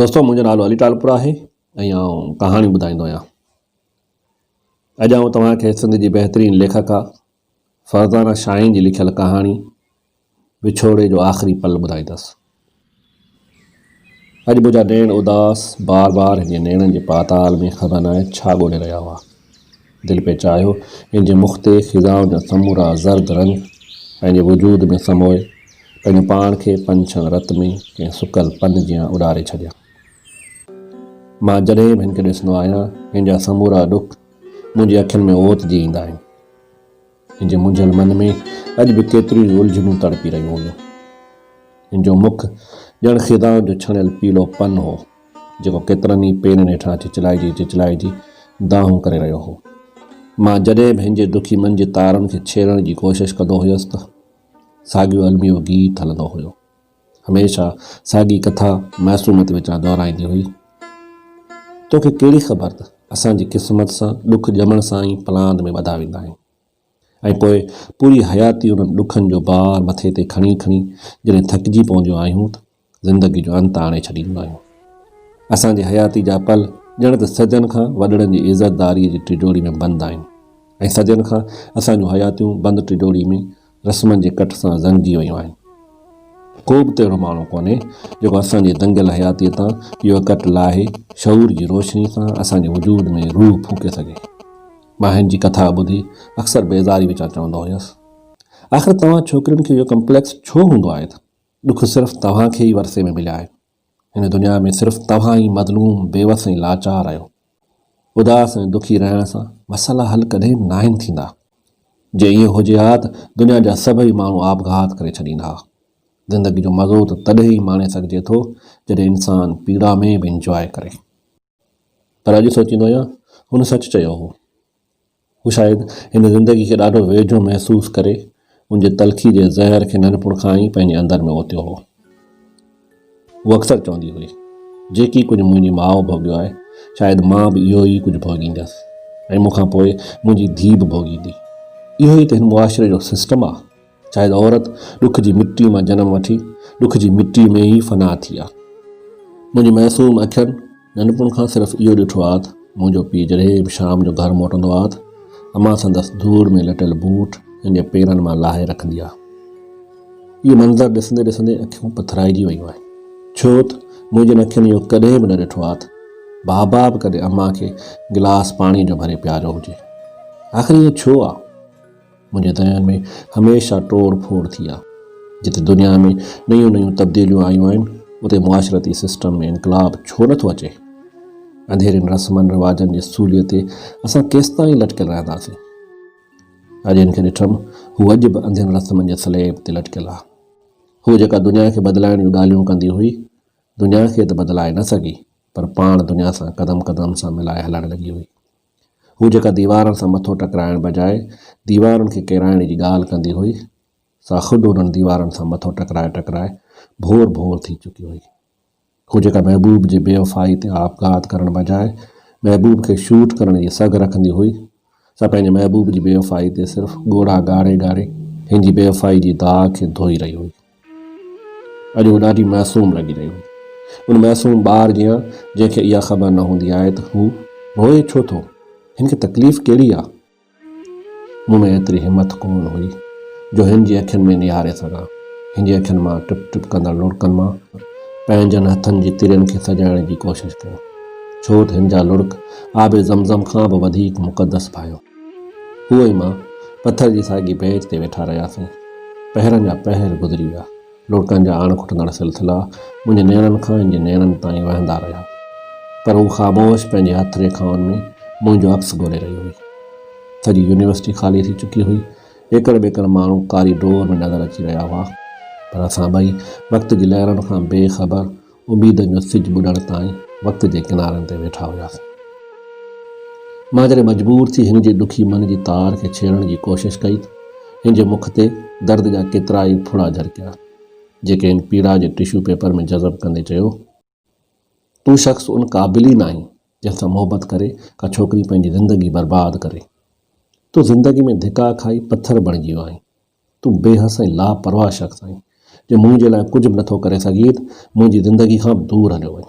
دوستو منهنجو نالو علي ٽالپر آهي ۽ آئون ڪهاڻيون ٻڌائيندو آهيان اڄ آئون توهان کي سنڌ جي بهترين ليکڪا فرزانه شاهين جي لکيل ڪهاڻي وڇوڙي جو آخري پل ٻڌائيندس اڄ منهنجا نيڻ اداس بار بار هن جي نيڻن جي پاتال ۾ خبر ناهي ڇا ڳولي رهيا هئا دل پئي چاهيو ان جي مخ تي خزان جا سمورا زرد رنگ پنهنجي وجود ۾ سموئي پنهنجو پاڻ کي پنڇن رت ۾ ڪنهن سڪل پن جيان اڏاري ڇڏيان. مان جڏهن به هن کي ڏسندو آهيان هن جا سمورا ڏک منهنجي اکين ۾ اوت جي ايندا آهن. هن جي منجهيل من ۾ اڄ به ڪيتريون ئي الجهنون تڙپي رهيون هيون. هن جو مک ڄڻ خزان جو ڇڻيل پيلو پن هو، جيڪو ڪيترن ئي پيرن هيٺان چچلائجي چچلائجي دانهون ڪري رهيو هو. مان جڏهن به هن جي دکي من جي تارن کي ڇيڙڻ جي ڪوشش ڪندو هيس ته ساڳيو الميو گيت هلندو هيو. هميشه ساڳي ڪٿا معصومت وچان دهرائيندي هئي، توکي ڪهڙي خبر ته اسان جي قسمت سان ڏک ڄمڻ سان ئي پلاند ۾ ٻڌا ويندا آهن ۽ پوء پوري حياتي انهن ڏکن جو بار مٿي تي کڻي کڻي جڏهن ٿڪجي پونديون آهيون ته زندگي جو انت آڻي ڇڏينديون آهيون. اسان جي حياتي جا پل ڄڻ ته صدين کان وڏڙن جي عزتداريء جي ٽجوڙي ۾ بند آهن ۽ صدين کان اسان جون حياتيون بند ٽجوڙي ۾ رسمن جي ڪٺ سان زنگجي ويون آهن. ڪو به ته اهڙو ماڻهو ڪونهي جيڪو اسان جي دنگيل حياتيء تان اهو ڪٽ لاهي شعور جي روشني سان اسان جي وجود ۾ روح ڦوڪي سگهي. مان هن جي ڪٿا ٻڌي اڪثر بيزاري وچان چوندو هيس، آخر توهان ڇوڪرين کي اهو ڪمپليڪس ڇو هوندو آهي ته ڏک صرف توهان کي ئي ورثي ۾ مليا آهن. هن دنيا ۾ صرف توهان ئي مظلوم، بيوس ۽ لاچار آهيو. اداس ۽ دکي رهڻ سان مسئلا حل ڪڏهن به ناهن ٿيندا. جي ائين هجي ها ته دنيا جا سڀئي ماڻهو آپگهات ڪري ڇڏين ها. زندگي جو مزو ته تڏهن ئي ماڻي سگهجي ٿو جڏهن انسان پيڙا ۾ به انجواء ڪري. پر اڄ سوچيندو آهيان هن سچ چيو هو. هو شايد هن زندگي کي ڏاڍو ويجهو محسوس ڪري ان جي تلخي جي زهر کي ننڍپڻ کان ئي پنهنجي اندر ۾ اوتيو هو. هوء اڪثر چوندي هئي، جيڪي ڪجهه منهنجي ماء ڀوڳيو آهي، شايد مان به اهو ئي ڪجهه ڀوڳيندس ۽ مون کان پوء منهنجي ڌيء به ڀوڳيندي. اهو ئي ته هن معاشري جو سسٽم آهي. شايد عورت ڏک جي مٽي مان جنم وٺي ڏک جي مٽي ۾ ئي فنا ٿي آ. منهنجي معصوم اکين ننڍپڻ کان صرف اهو ڏٺو آ ته منهنجو پيء جڏهن به شام جو گهر موٽندو آ ته امان سندس ڌوڙ ۾ لٽيل بوٽ سندي پيرن مان لاهي رکندي آ. اهو منظر ڏسندي ڏسندي اکيون پٿرائجي ويون آهن ڇو ته منهنجين اکين اهو ڪڏهن به نه ڏٺو آ ته بابا به ڪڏهن امان کي گلاس پاڻي جو ڀري پياريو هجي. آخر ائين ڇو آ؟ منهنجي دهن ۾ هميشه ٽوڙ ڦوڙ ٿي آ. جتي دنيا ۾ نيون نيون تبديليون آيون آهن اتي معاشرتي سسٽم ۾ انقلاب ڇو نه ٿو اچي؟ انڌيرين رسمن رواجن جي سولي تي اسان ڪيستائين لٽڪيل رهنداسين؟ اڄ هن کي ڏٺم هو اڄ به انڌين رسمن جي سليب تي لٽڪيل آ. هوء جيڪا دنيا کي بدلائڻ جون ڳالهيون ڪندي هئي دنيا کي ته بدلائي نه سگهي پر پاڻ دنيا سان قدم قدم سان ملائي هلڻ لڳي هئي. هو جيڪا ديوارن سان مٿو ٽڪرائڻ بجاء ديوارن کي ڪيرائڻ جي ڳالهه ڪندي هئي، سا خود انهن ديوارن سان مٿو ٽڪرائي ٽڪرائي ڀور ڀور ٿي چڪي هئي. هو جيڪا محبوب جي بيوفائي تي آپگهات ڪرڻ بجاء محبوب کي شوٽ ڪرڻ جي سگهه رکندي هئي، سا پنهنجي محبوب جي بيوفائي تي صرف ڳوڙها ڳاري ڳاري هن جي بيوفائي جي داغ کي ڌوئي رهي هئي. اڄ هو ڏاڍي معصوم لڳي رهي هئي. ان معصوم ٻار جيان جنهن کي اها خبر نه هوندي آهي ته هو روئي ڇو ٿو؟ هن کي تڪليف ڪهڙي آهي؟ مون ۾ ايتري همٿ ڪونه هئي جو هن جي اکين ۾ نهاري سگهان. هن جي اکين مان ٽپ ٽپ ڪندڙ لڙڪن مان پنهنجن هٿن جي ترين کي سجائڻ جي ڪوشش ڪيم. ڇو ته هن جا لڙڪ آب زم زم کان به وڌيڪ مقدس ڀانئيو. هو ۽ مان پٿر جي ساڳي بينچ تي ويٺا رهياسون. پهرن جا پهر گذري ويا. لڙڪن جا آڻ کٽندڙ سلسلا منهنجي نيڻن کان هن جي نيڻن تائين وهندا رهيا. پر هو خاموش پنهنجي هٿ ريکائن ۾ منهنجو عڪس ڳولي رهي هئي. سڄي يونيورسٽي خالي ٿي چڪي هئي. ايڪڙ ٻيڪڙ ماڻهو ڪاري ڊور ۾ نظر اچي رهيا هئا. پر اسان ٻئي وقت جي لهرن کان بي خبر اميدن جو سج ٻڏڻ تائين وقت جي ڪنارن تي ويٺا هياسين. مان جڏهن مجبور ٿي هن جي ڏکي من جي تار کي ڇيڙڻ جي ڪوشش ڪئي ته هن جي مک تي درد جا ڪيترائي ڦڙا جرڪيا، جيڪي هن پيڙا جي ٽشو پيپر ۾ جذب ڪندي چيو، تون شخص ان قابل ئي ناهين، جنهن سان محبت ڪري ڪا ڇوڪري پنهنجي زندگي برباد ڪري. تون زندگي ۾ ڌڪا کائي پٿر بڻجي ويو آهين. تون بي حس ۽ لاپرواهه شخص آهين، جو منهنجي لاء ڪجهه به نٿو ڪري سگهين ته منهنجي زندگي کان به دور هليو وڃ.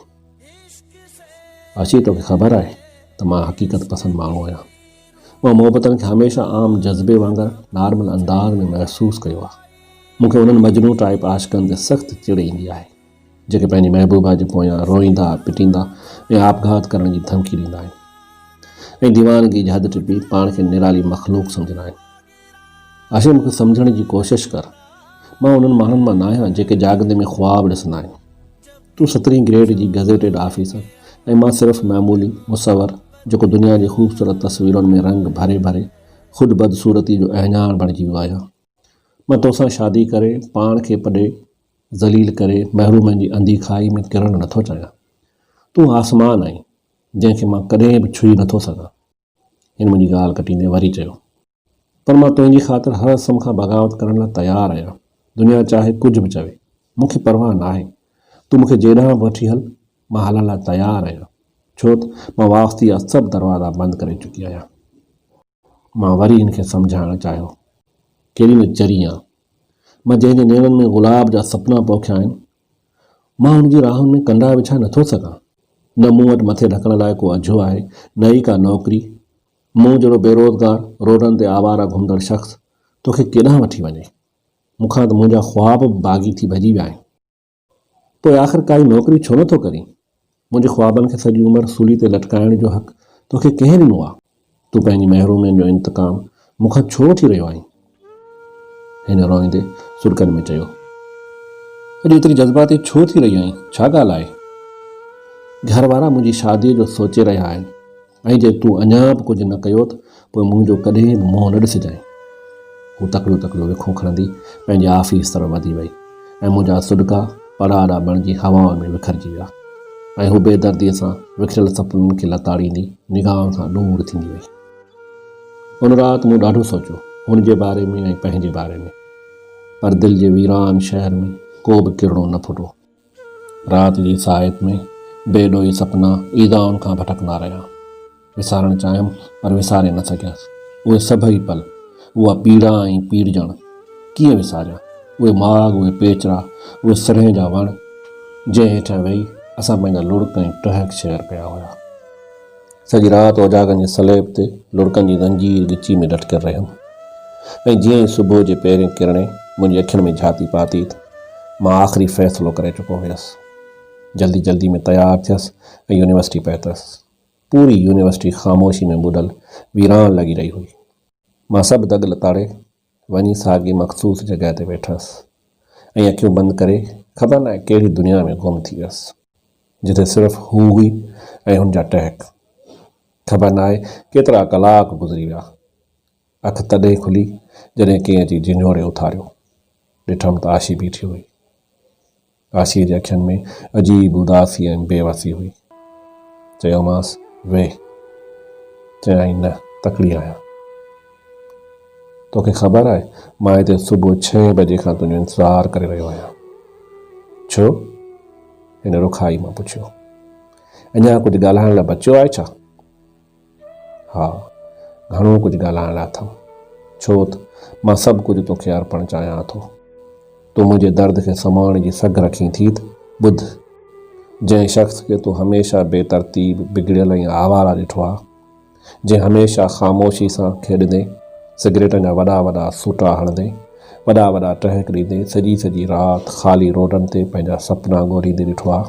اشي توکي خبر آهي ته مان حقيقت پسند ماڻهو آهيان. مان محبتن کي هميشه عام جذبي وانگر نارمل انداز ۾ محسوس ڪيو آهي. مون کي انهن مجنون ٽائيپ عاشقن تي سخت چڙ ايندي آهي، جيڪي پنهنجي محبوبا جي پويان روئيندا، پٽيندا ۽ آپگهات ڪرڻ جي ڌمڪي ڏيندا آهن ۽ ديوانگي جي حد ٽپي پاڻ کي نرالي مخلوق سمجهندا آهن. آشيء مون کي سمجهڻ جي ڪوشش ڪر. مان انهن ماڻهن مان ناهيان جيڪي جاڳندي ۾ خواب ڏسندا آهن. تون سترهين گريڊ جي گزيٽيڊ آفيسر ۽ مان صرف معمولي مصور جيڪو دنيا جي خوبصورت تصويرن ۾ رنگ ڀري ڀري خود بدصورتي جو اهڃاڻ بڻجي ويو آهيان. مان توسان شادي ڪري پاڻ کي پڏي ذليل ڪري محرومين جي انڌي کاهي ۾ ڪرڻ نٿو چاهيان. تون آسمان آهين جنهن کي مان ڪڏهن به ڇهي نٿو سگهان. هن منهنجي ڳالهه ڪٽيندي وري چيو، پر مان تنهنجي خاطر هر اسم کان بغاوت ڪرڻ لاء تيار آهيان. دنيا چاهي ڪجهه به چوي، مون کي پرواهه ناهي. تون مون کي جيڏانهن به وٺي هل، مان هلڻ لاء تيار آهيان. ڇو ته مان واسطي جا سڀ دروازا بند ڪري چڪي آهيان. مان وري هن کي سمجهائڻ چاهيو، ڪهڙي نه چري آن! مان جنهن جي نيڻن ۾ گلاب جا سپنا پوکيا آهن، مان هن جي راهن ۾ ڪنڊا وڇائي نٿو سگهان. نه مون وٽ مٿي ڍڪڻ لاء ڪو اجهو آهي، نه ئي ڪا نوڪري. مون جهڙو بيروزگار، روڊن تي آواره گهمندڙ شخص توکي ڪيڏانهن وٺي وڃي؟ مون کان ته منهنجا خواب به باغي ٿي ڀڄي ويا آهن. پوء آخر ڪائي نوڪري ڇو نٿو ڪرين؟ منهنجي خوابن کي سڄي عمر سولي تي لٽڪائڻ جو حق توکي ڪنهن ڏنو آ؟ تون پنهنجي محرومين جو انتقام مون کان ڇو وٺي رهيو آهين؟ هن روئيندي سرڪن ۾ چيو. اڄ ايتري جذباتي ڇو ٿي رهي آهين؟ ڇا ڳالهه آهي؟ گهر وارا منهنجي شاديء جو سوچي رهيا آهن. ۽ جي تون اڃا به ڪجهه نه ڪيو ته پوء منهنجو ڪڏهن به منهن نه ڏسجانء. هوء تڪڙيون تڪڙيون وکون کڻندي پنهنجي آفيس طرف وڌي وئي ۽ منهنجا سڏڪا پڙاڏا بڻجي هوائن ۾ وکرجي ويا ۽ هوء بيدرديء سان وکريل سپنن کي لتاڙيندي نگاهن کان ڏور ٿيندي وئي. ان رات مون ڏاڍو سوچيو، هن جي باري ۾ ۽ پنهنجي باري ۾، پر دل جي ويران شهر ۾ ڪو به ڪرڻو نه ڦٽو. رات جي ساعت ۾ بي ڏوهي سپنا ايذائن کان ڀٽڪندا رهيا. وسارڻ چاهيم پر وساري نه سگهيس. اهي سڀئي پل، اها پيڙا ۽ پيڙجڻ ڪيئن وساريان؟ اهي ماڳ، اهي پيچرا، اهي سرهين جا وڻ، جنهن هيٺيان ويهي اسان پنهنجا لڙڪ ۽ ٽهڪ شيئر ڪيا هيا. سڄي رات اوجاڳن جي سليب تي لڙڪن جي زنجير ڳچي ۾ لٽڪيل رهيم ۽ جيئن ئي صبح جي پهرين ڪرڻي منهنجي اکين ۾ جهاتي پاتي ته مان آخري فيصلو ڪري چڪو هيس. جلدي جلدي ۾ تيار ٿيس ۽ يونيورسٽي پهتس. پوري يونيورسٽي خاموشي ۾ ٻڏل ويران لڳي رهي هئي. مان سڀ دڳ لتاڙي وڃي ساڳي مخصوص جڳهه تي ويٺس ۽ اکيون بند ڪري خبر ناهي ڪهڙي دنيا ۾ گم ٿي ويس، جتي صرف هو هئي ۽ هن جا ٽهڪ. خبر ناهي ڪيترا ڪلاڪ گذري ويا. اک تڏهن کلي جڏهن ڪنهن اچي جهنجهوڙي اٿاريو. ڏٺم ته آشي بيٺي هئي. ڪاشيء جي اکين ۾ عجيب اداسي ۽ بي وسي هئي. چيومانس، ويهه. چيائين، نه، تڪڙي آهيان. توکي خبر آهي، مان هتي صبح ڇهين بجي کان تنهنجو انتظار ڪري رهيو آهيان. ڇو؟ هن رکائي مان پڇيو. اڃا ڪجهه ڳالهائڻ لاء بچيو آهي ڇا؟ ها، گهڻو ڪجهه ڳالهائڻ لاء اٿم، ڇو ته مان سڀ ڪجهه تو کي ارپڻ چاهيان ٿو. تون منهنجي درد کي سمهڻ جي سگهه رکين ٿي ته ٻڌ، جنهن شخص کي تون هميشه بي ترتيب، بگڙيل ۽ آواره ڏٺو آهي، جنهن هميشه خاموشي سان کيڏندي، سگريٽن جا وڏا وڏا سوٽا هڻندي، وڏا وڏا ٽهڪ ڏيندي، سڄي سڄي رات خالي روڊن تي پنهنجا سپنا ڳوليندي ڏٺو آهي،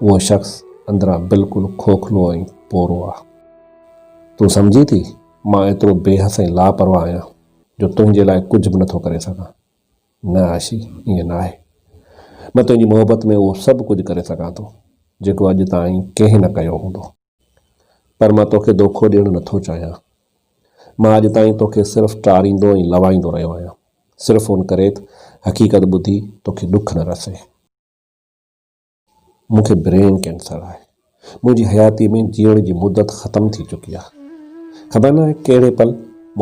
اهو شخص اندران بلڪل کوکلو ۽ پورو آ. تون سمجهين ٿي مان ايترو بي حس ۽ لاپرواهه آهيان جو تنهنجي لاء ڪجهه به نٿو ڪري سگهان. نه عاشي ائين ناهي. مان تنهنجي محبت ۾ اهو سڀ ڪجهه ڪري سگهان ٿو جيڪو اڄ تائين ڪنهن نه ڪيو هوندو. پر مان توکي دوکو ڏيڻ نٿو چاهيان. مان اڄ تائين توکي صرف ٽاريندو ۽ لوائيندو رهيو آهيان صرف ان ڪري ته حقيقت ٻڌي توکي ڏک نه رسي. مون کي برين ڪينسر آهي. منهنجي حياتيء ۾ جيئڻ جي مدت ختم ٿي چڪي آهي. خبر ناهي ڪهڙي پل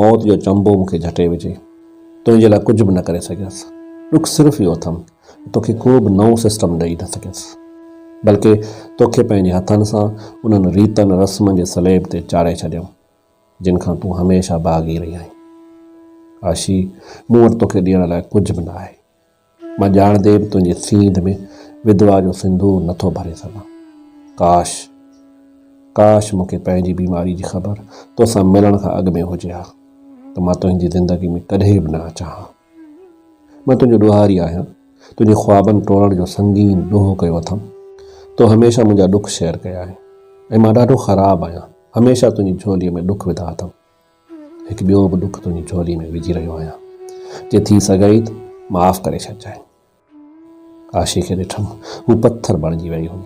موت جو چنبو مون کي جهٽي وجهي. تنهنجي لاء ڪجهه به نه ڪري سگهيس. ڏک صرف اهو اٿم ته توکي ڪو به نئون سسٽم ڏئي نه سگهيس. بلڪه توکي پنهنجي هٿن سان انهن ريتن رسمن جي سليب تي چاڙهي ڇڏيم، جن کان تون هميشه باغي رهي آهين. آشي، مون وٽ توکي ڏيڻ لاء ڪجهه به نه آهي. مان ڄاڻندي به تنهنجي سينڌ ۾ وڌوا جو سندور نه ٿو ڀري سگهان. ڪاش! ڪاش! مون کي پنهنجي بيماري جي خبر تو سان ملڻ کان اڳ ۾ هجي ها ته مان تنهنجي زندگي ۾ ڪڏهن به نه اچان ها. مان تنهنجو ڏوهاري آهيان، تنهنجي خوابن ٽوڙڻ جو سنگين ڏوهه ڪيو اٿم. تو هميشه منهنجا ڏک شيئر ڪيا آهن ۽ مان ڏاڍو خراب آهيان، هميشه تنهنجي جهولي ۾ ڏک وڌا اٿم. هڪ ٻيو به ڏک تنهنجي جهولي ۾ وجهي رهيو آهيان، جي ٿي سگهئي ته معاف ڪري ڇڏجانء. ڪاشي کي ڏٺم، هو پٿر بڻجي ويئي هئي،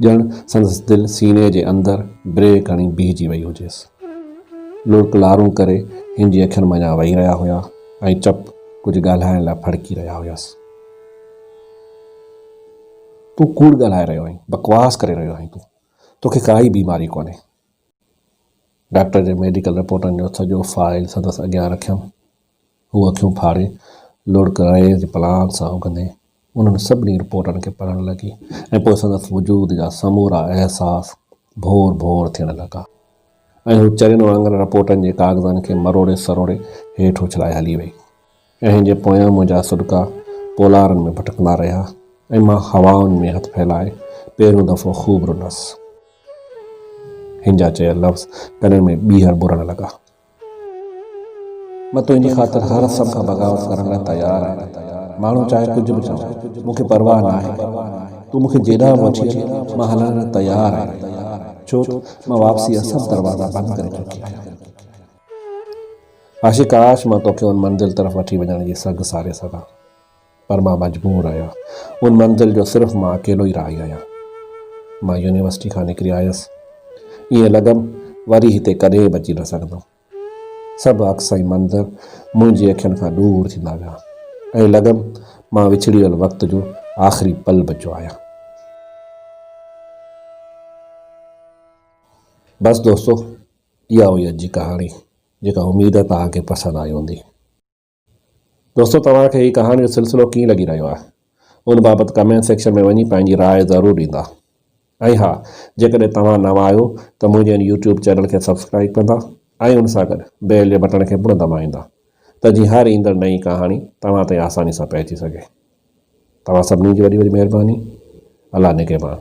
ڄڻ سندس دل سيني جي اندر بريڪ هڻي بيهجي ويئي هجيس. لڙڪ لارون ڪري هن جي اکين منجهان وهي رهيا هيا ۽ چپ ڪجهه ڳالهائڻ لاء ڦڙڪي رهيا هيس. تون ڪوڙ ڳالهائي رهيو آهين، بڪواس ڪري رهيو آهين تون، توکي ڪا ئي بيماري ڪونهي. ڊاڪٽر جي ميڊيڪل رپورٽن جو سڄو فائل سندس اڳيان رکيم. هوء اکيون ڦاڙي لڙڪ رئي جي پلان سان اگهندي انهن سڀني رپورٽن کي پڙهڻ لڳي ۽ پوء سندس وجود جا سمورا احساس ڀور ڀور ٿيڻ لڳا ۽ هوء چرين وانگر رپورٽن جي ڪاغذن کي مروڙي سروڙي هيٺ اڇلائي هلي وئي. ڪنهن جي پويان منهنجا سڏڪا پولارن ۾ ڀٽڪندا رهيا ۽ مان هوائن ۾ هٿ ڦهلائي پهريون دفعو خوب رنس. هن جا چيل لفظ ڪنن ۾ ٻيهر ٻرڻ لڳا. مان تنهنجي خاطر هر سڀ کان بغاوت ڪرڻ لاء تيار آهيان. ماڻهو چاهي ڪجهه به چون، مون کي پرواهه ناهي. تون مون کي جيڏانهن به وٺي هل، مان هلڻ لاء تيار آهيان. ڇوته مان واپسيء جا سڀ دروازا بند ڪري چڪي آهيان. عاشق ڪاش مان توکي ان منزل طرف وٺي وڃڻ جي سگهه ساري سگهان پر مان مجبور آهيان ان منزل جو صرف مان اڪيلو ئي راهي آهيان. مان يونيورسٽي کان نڪري آيس ائين لڳم وري هتي ڪڏهن به اچي نه سگهندم. سڀ عڪس ۽ منظر منهنجي اکين کان ڏور ٿيندا ويا ائين لڳم مان وڇڙيل وقت جو آخري پل بچيو آهيان. بس دوستو! اها هئي اڄ جي ڪهاڻي جيڪا اميد آهي توهان کي پسند آئي هوندي. دوستو توهان کي هي ڪهاڻي جو سلسلو ڪيئن لڳي رهيو آهي ان بابت ڪمينٽ سيڪشن ۾ وڃي پنهنجي راء ضرور ڏيندا ۽ ها جيڪڏهن توهان نوان آهيو ته منهنجي ان يوٽيوب چينل کي سبسڪرائيب ڪندا ۽ ان سان گڏ بيل جي بٽڻ کي پڻ دٻائيندا ته جيئن هر ايندڙ نئين ڪهاڻي توهان تائين آساني سان پهچي سگهي توهان سڀني جي وڏي وڏي مهرباني الله نگهبان.